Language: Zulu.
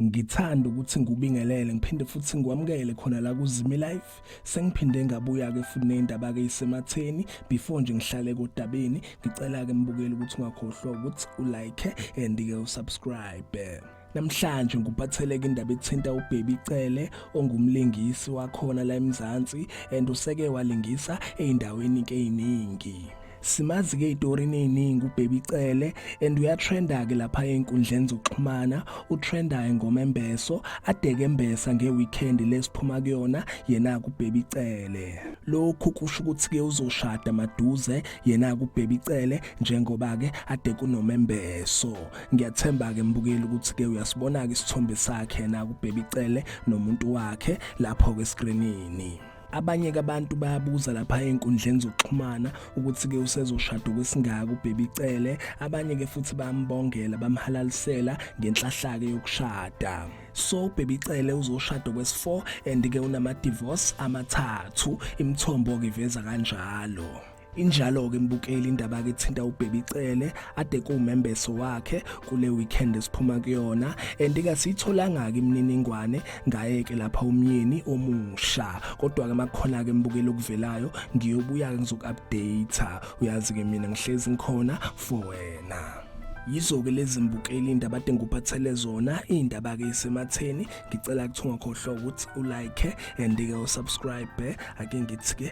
ngithanda ukuthi ngikubingelele ngiphinde futhi ngikwamukele khona la kuzimi life sengiphinde ngabuya ke futhi nendaba ke isematheni before nje ngihlale kodabeni ngicela ke mbukeli ukuthi ungakhohlwa ukuthi ulike and ke usubscribe Namhlanje ngikuphatheleke indaba ethinta uBaby Cele ongumlingisi wakhona la eMzansi and useke walingisa eindaweni keyiningi. Simazi ke idorini eziningi uBaby Cele and uyatrenda ke lapha einkundleni zokuxhumana utrenda ingoma embeso adeke embesa ngeweekend lesiphuma kuyona yena kuBaby Cele. Lokhu kusho ukuthi ke uzoshada maduze yena kuBaby Cele njengoba ke ade kunomembeso. ngiyathemba ke mbukeli ukuthi ke uyasibona ke isithombe sakhe na kubheba icele nomuntu wakhe lapho ke screenini abanye abantu bayabuza lapha ezinkundleni zokuxhumana ukuthi ke usezoshada kwesingaka ubhebi cele abanye ke futhi bambongela bamhalalisela ngenhlahlake yokushada so baby cele uzoshada kwesi4 and ke unama divorce amathathu imthombo ke veza kanjalo Injalo-ke mbukeli indaba ke thinta uBaby Cele ade kuwumembeso wakhe kule weekend esiphuma kuyona and ke siyitholanga ke imininingwane ngaye ke lapha umyeni omusha kodwa ke makukhona ke mbukeli okuvelayo ngiyobuya ke ngizoku-update uyazi ke mina ngihlezi ngikhona for wena yizo-ke lezi mbukeli indaba ade ngikuphathele zona iy'ndaba-ke isematheni ngicela kuthi ungakhohlwa ukuthi ulike and-ke usubscribe ake ngithi-ke